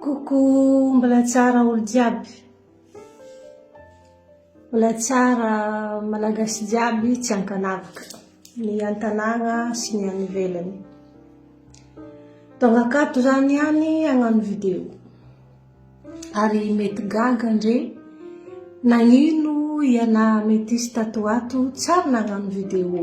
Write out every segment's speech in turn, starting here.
Coucou, mbola tsara olo jiaby. Mbola tsara malagasy jiaby tsy ankanavaka. Ny antanàgna sy ny any ivelany. Tonga akato zany ihany hagnano vidéo. Ary mety gaga ndre nagnino ianà metisy tato ho ato tsary nagnano vidéo.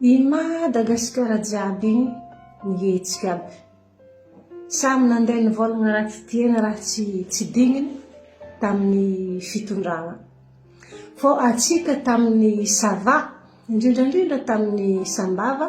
I Madagasikara jiaby iny nihetsika aby. Samy nandeha nivolagna ratsy dieny ratsy tsy digniny tamin'ny fitondrana. Fô antsika tamin'ny ça va, indrindrandrindra tamin'ny Sambava,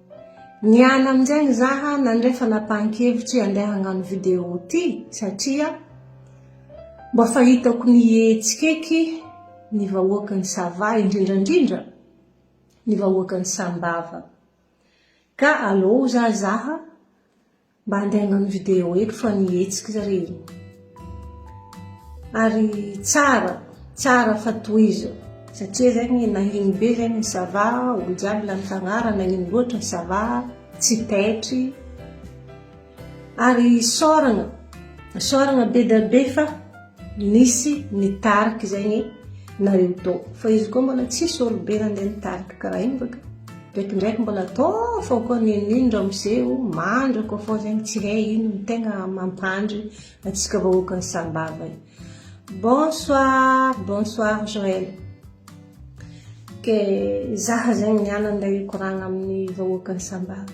Niala amin'izegny zaha nandray fanapahan-kevitry handeha hagnano video ty satria mba fa hitako nihetsika eky ny vahoakan'i Sava indrindra indrindra ny vahoakan'i Sambava. Ka alou zaha zaha Mba handeha hagnano vidéo eto fa ny hetsika zah re. Ary tsara, tsara fa tohizo. Satria zegny nagnino be zegny ny sava, olo jiaby lany tagnara, nagnino loatra ny sava, tsy taitry. Ary isaoragna, isaoragna be dia be fa. Nisy nitarika izay ny nareo tao fa izy koa mbola tsisy olobe nandeha nitarika karaha iny baka ndraiky ndraiky mbola atao fa koa ninin ramose o mandry koa fa zegny tsy hay ino ny tegna mampandry atsika vahoaka ny sambava io bonsoir bonsoir Joël ke zaha zegny nianany ndray hikoragna amin'ny vahoaka ny sambava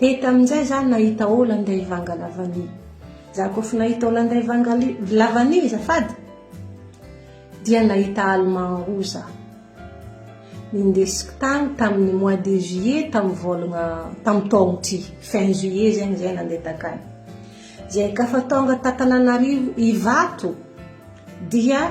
Dia tamin'izay za nahita Hollandais vanga lavania. Za koa fa nahita Hollandais vanga lavania azafady dia nahita Allemand roa za. Nindesiko tany tamin'ny mois de juillet tamin'ny volagna tamin'ny taogno ty, fin juillet zegny zay nandeha takany. Zay ka fa tonga ta Tananarivo Ivato dia.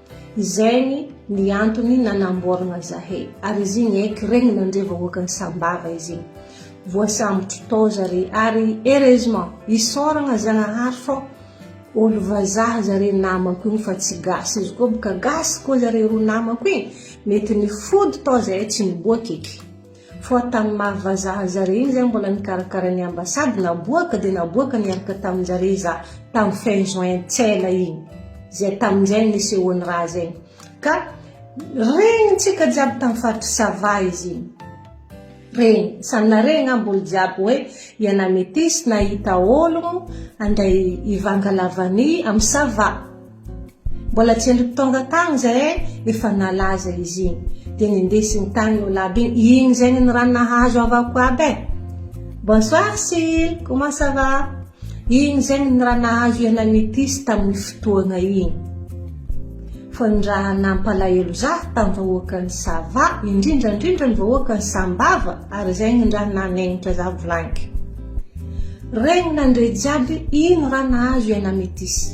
Izay ny ny antony nanamboaragna zahay. Ary izy igny eky regny nandre vahoaka ny Sambava izy igny. Voasambotro tao zare ary heureusement isaoragna Zagnahary fô olo vazaha zare namako igny fa tsy gasy. Izy koa boka gasy koa zare roa namako igny mety nifody tao zahay tsy niboaka eky. Fa tamin'ny maha vazaha zare iny zay mbola nikarakara ny ambassade naboaka dia naboaka niaraka taminjare za tamin'ny fin juin tsela iny zay tamin'izay nisehoan'ny raha zay ka regnintsika jiaby tamin'ny faritry sava izy iny regny samy naregny nga mbolo jiaby hoe iana metisy nahita ologno andray ivanga lavani amin'ny sava Mbola tsy ela tonga tany zay e, efa nalaza izy iny, dia nindesiny tany io lab iny, iny izay ny raha nahazo havako aby e. Bonsoir Sil, comment ça va? Iny izay ny raha nahazo ianay Métis tamin'ny fotoana iny. Fa ny raha nampalahelo za tamin'ny vahoakan'i Sava, indrindra indrindra ny vahoakan'i Sambava, ary izay ny raha nanegnitra za blank. Regny nandre jiaby ino raha nahazo ianay Métis.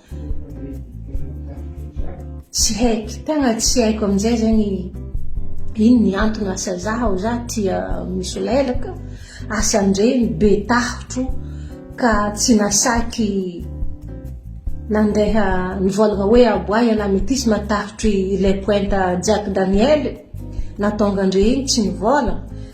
Tsy haiko, tegna tsy haiko amin'izay zegny ino ny antony asa zaho za tia misolelaka asan-dregny be tahotro ka tsy nasaky nandeha nivôlagna hoe aboa ialahy metisy matahotry le pointa Jack Daniel nahatonga an-dre igny tsy nivôlagna.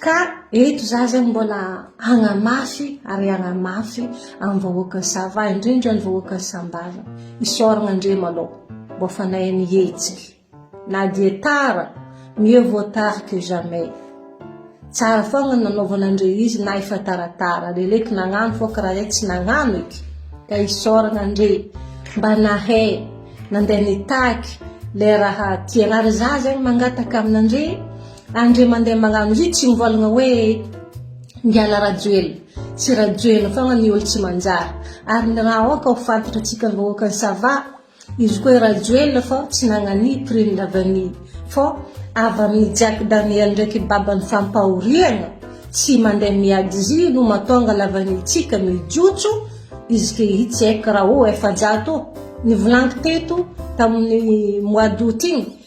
Ka eto za zany mbola hagnamafy ary hagnamafy amin'ny vahoaka Sava, indrindra ny vahoaka Sambava, isaoragna Andriama aloha mbô fanahy mihetsika, na dia tara, mieux vaut tard que jamais, tsara fôgna ny nanaovan'Andre izy na efa taratara, leleky nagnano fô karaha zay tsy nagnano eky, ka isaoragna Andre mba nahay nandeha nitaky le raha tiagna, ary za zegny mangataka amin'Andre Andre mandeha magnano hits io mivôlagna hoe miala Rajoelina tsy Rajoelina fôgna ny olo tsy manjary ary ny raha aoka ho fantatra tsika vahoaka ny sava izy koa i Rajoelina fô tsy nagnania prime lavanie fô avy aminy Jack Daniel ndraiky babany fampahoriagna tsy mandeha miady izy io no matônga lavanie tsika mijotso izy ke hitsy eky raha o efajato o nivolagniko teto taminy mois d'aout igny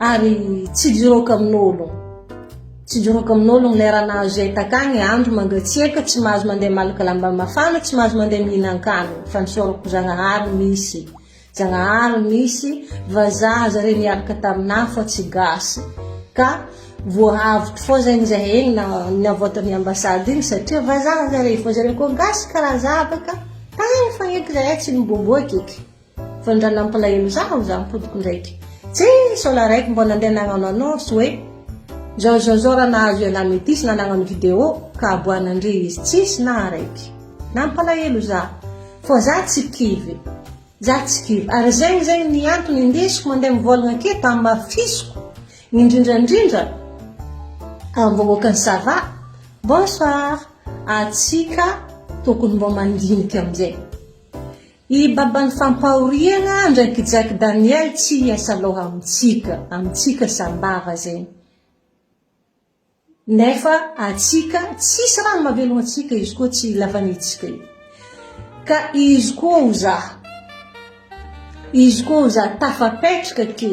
ary tsy jiroko amin'ologno tsy jiroko amin'ologno ilay raha nahazo izay takagny andro mangatsiaka tsy mahazo mandeha malaka lamba mafana tsy mahazo mandeha mihinan-kanina fa ny saorako zagnahary misy zagnahary misy vazaha zare niaraka taminà fa tsy gasy ka voahavotro fao zagny izahay egny na niavoatan'ny ambasady igny satria vazaha zare fa zareo koa gasy karaha za baka tagny fa eky zahay tsy niboboaka eky Vao nirana ampalahelo za aho za mipodiko ndraiky tse sao la raiky mbô nandeha nagnano annonce hoe zao zao zao ra nahazo ialahy metisy na nagnano video ka aboahana ndry izy tsisy na araiky nampalahelo za fô za tsy kivy za tsy kivy ary zegny zegny ny antony indesiko mandeha mivôlagna aketo amafisiko indrindra ndrindra am vahoakan'i sava bonsoir atsika tokony mbô mandiniky amizay I Baban'ny fampahoriana andraikijaky Daniel tsy hiasa loha amintsika, amintsika sambava zay nefa atsika tsisy raha mavelogno antsika izy koa tsy lavanitsika io ka izy koa ho za izy koa ho za tafapetraka ke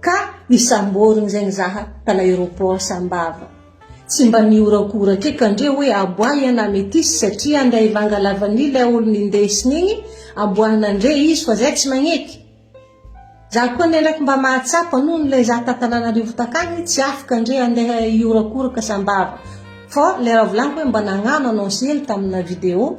Ka isamborigny izay nizaha tana aeroport sambava tsy mba nihorakoraka e ka ndre hoe aboahy an ametiste satria ndray vanga lavanila e olo nindesigny igny aboahana ndre izy fa zay tsy magneky za koa anie ndraiky mba mahatsapa noho nilay za ta tananarivo takagny tsy afaka ndre andeha hihorakoraka sambava fa le raha volagniko hoe mba nagnano anao zely tamina video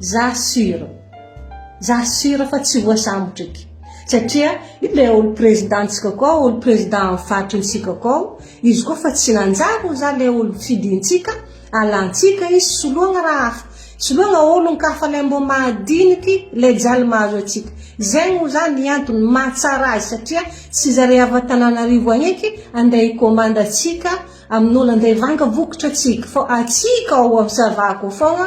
Za sur. Za sur fa tsy voasambotry eky. Satria iny le ol président ntsika koa ol président am faritry ny sika koa izy koa fa tsy nanjary ho za le ol fidintsika alantsika izy soloagna raha hafa soloagna olon kafa le mbo mahadiniky le jaly mahazo atsika zegny ho za ny antony mahatsara azy satria tsy zare avy atananarivo agny eky ande hikômandy atsika aminolo ande hivanga vokatra atsika fô atsika ao am sava akao fôgna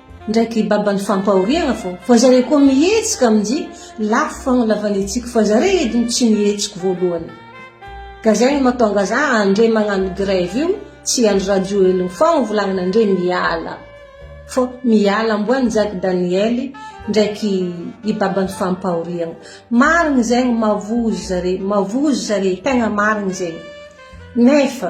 ndraiky baban'ny fampahoriana fô fa zareo koa mihetsika amin'jy lafo fagnalavan'ny hetsiko fa zareo edy no tsy mihetsiko voalohany ka zay no matonga za andre magnano grève io tsy andry rajoelina fogna volagnina andre miala fô miala amboa ny jaky daniely ndraiky i baban'ny fampahoriana marigny zegny mavozo zare mavozo zare tegna marigny zegny nefa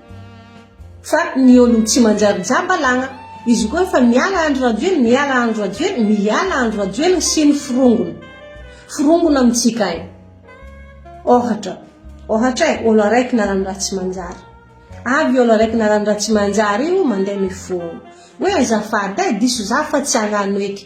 Fa ny olon tsy manjary jamba lagna. Izy koa efa miala Andry Rajoelina, miala Andry Rajoelina, miala Andry Rajoelina sy ny forongony. Forongony amintsika ay. Ohatra, ohatra e, olo araiky narany raha tsy manjary. Avy io olo araiky narany raha tsy manjary io mandeha mifono. Hoe azafady ay, diso za fa tsy agnano eky.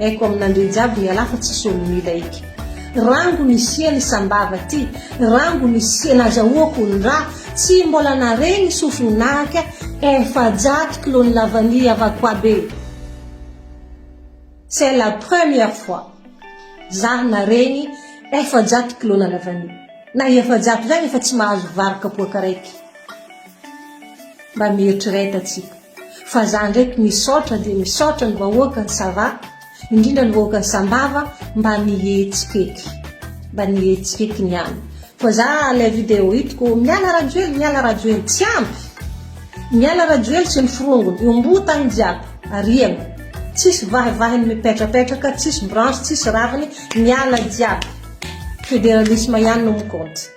Aiko aminandreo jiaby ny ala fa tsisy olo mila eky Rango ny siany sambava ty Rango ny siany azahoako ny ra Tsy mbola naregny sofiny nahaka Efajato kilo ny lavani avako aby e C'est la première fois za naregny efajato kilo na lavani Na efajato zagny efa tsy mahazo vary kapoaka raiky Mba mieritrereta tsika. Fa za ndraiky misaotra dia misaotra ny vahoaka ny sava, indrindra ny vahoaka ny sambava mba nihetsik'eky, mba nihetsik'eky niany fa za ilay video hitiko miala rajoely miala rajoely tsy ampy, miala rajoely sy ny firongony, io mbo tany jiaby ariany, tsisy vahivahiny mipetrapetraka, tsisy branche, tsisy raviny, miala jiaby, federalisme ihany no mi compte.